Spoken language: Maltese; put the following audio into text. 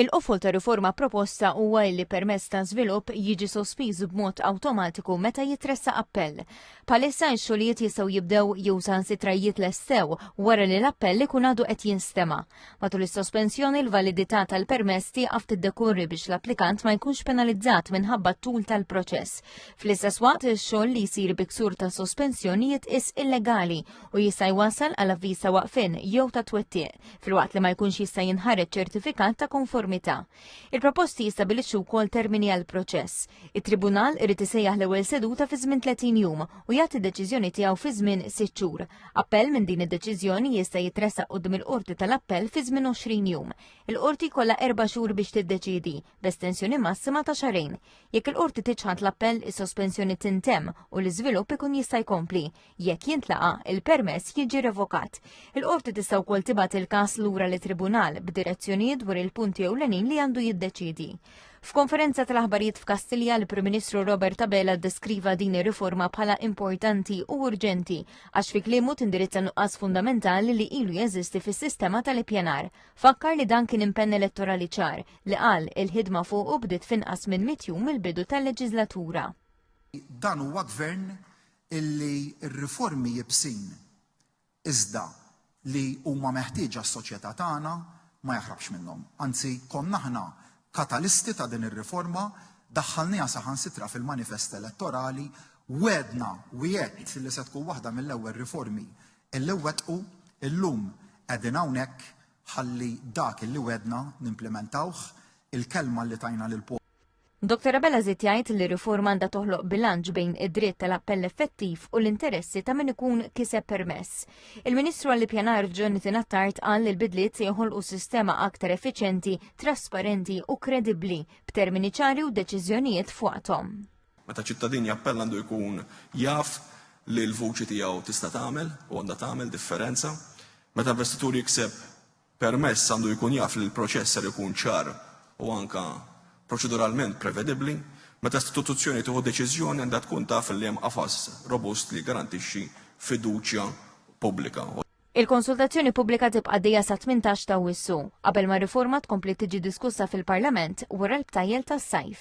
Il-qofol ta' riforma proposta huwa li permess ta' żvilupp jiġi sospiż b'mod awtomatiku meta jitressa appell. Palissa x-xogħlijiet jistgħu jibdew jew saħansitra jitlestew wara li l-appell ikun għadu qed jinstema. Matul is-sospensjoni l-validità tal-permess tieqaf tiddekurri biex l-applikant ma jkunx penalizzat minħabba t-tul tal-proċess. Fl-istess waqt ix-xogħol li jsir biksur ta' sospensjonijiet is illegali u jista' jwassal għal avviż ta' waqfin jew ta' twettiq filwaqt li ma jkunx jista' jinħareġ ċertifikat ta' konformità. Il-proposti jistabilixxu wkoll termini għal proċess. It-Tribunal irid isejjaħ l-ewwel seduta fi żmien 30 jum u jagħti deċiżjoni tiegħu fi żmien 6 xhur. Appell minn din id-deċiżjoni jista' jitressaq qudiem il-Qorti tal-Appell fi żmien 20 jum. Il-Qorti kollha erba' xhur biex tiddeċidi b'estensjoni massima ta' xarejn. Jekk il-Qorti tiċħad l-appell is-sospensjoni tintemm u l-iżvilupp ikun jista' jkompli. Jekk jintlaqa, il-permess jiġi revokat. Il-qorti tista' wkoll tibgħat il-każ lura li tribunal b'direzzjonijiet dwar il-punti ewlenin li għandu jiddeċidi. F'konferenza tal-aħbarijiet f'Kastilja, l-Prim Ministru Robert Abela ddeskriva din ir-riforma bħala importanti u urġenti għax fi kliemu tindirizza nuqqas fundamentali li ilu jeżisti fis-sistema tal-ippjanar. Fakkar li dan kien impenn elettorali ċar li qal il-ħidma fuq u bdiet finqas minn mitjum mill-bidu tal-leġiżlatura. Dan huwa gvern illi r-riformi iebsin iżda li huma meħtieġa għas-soċjetà tagħna ma jaħrabx minnhom. Anzi, konna aħna katalisti ta' din ir-riforma, daħħalniha saħansitra fil-manifest elettorali, wegħdna wiegħed li se tkun waħda mill-ewwel riformi illi nwettqu, illum qegħdin hawnhekk ħalli dak illi wegħdna nimplimentawh, il-kelma li tajna lill-poplu. Dr. Abela żied jgħid li riforma għandha toħloq bilanċ bejn id-dritt tal-appell effettiv u l-interessi ta' min ikun kiseb permess. Il-Ministru għall-Ippjanar Jonathan Attard qal li l-bidliet se joħolqu sistema aktar effiċenti, trasparenti u kredibbli b'termini ċari u deċiżjonijiet fuqhom. Meta ċittadin jappell għandu jkun jaf li l-vuċi tiegħu tista' tagħmel u għandha tagħmel differenza. Meta investitur jikseb permess għandu jkun jaf li l-proċess ser ikun ċar u anke proċeduralment prevedibbli. Meta istituzzjoni tieħu deċiżjoni għandha tkun taf li hemm qafas robust li jiggarantixxi fiduċja pubblika. Il-konsultazzjoni pubblika tibqa' għaddejja sat-18 ta' Awwissu, qabel ma r-riforma tkompli tiġi diskussa fil-Parlament wara l-btajjel tas-sajf.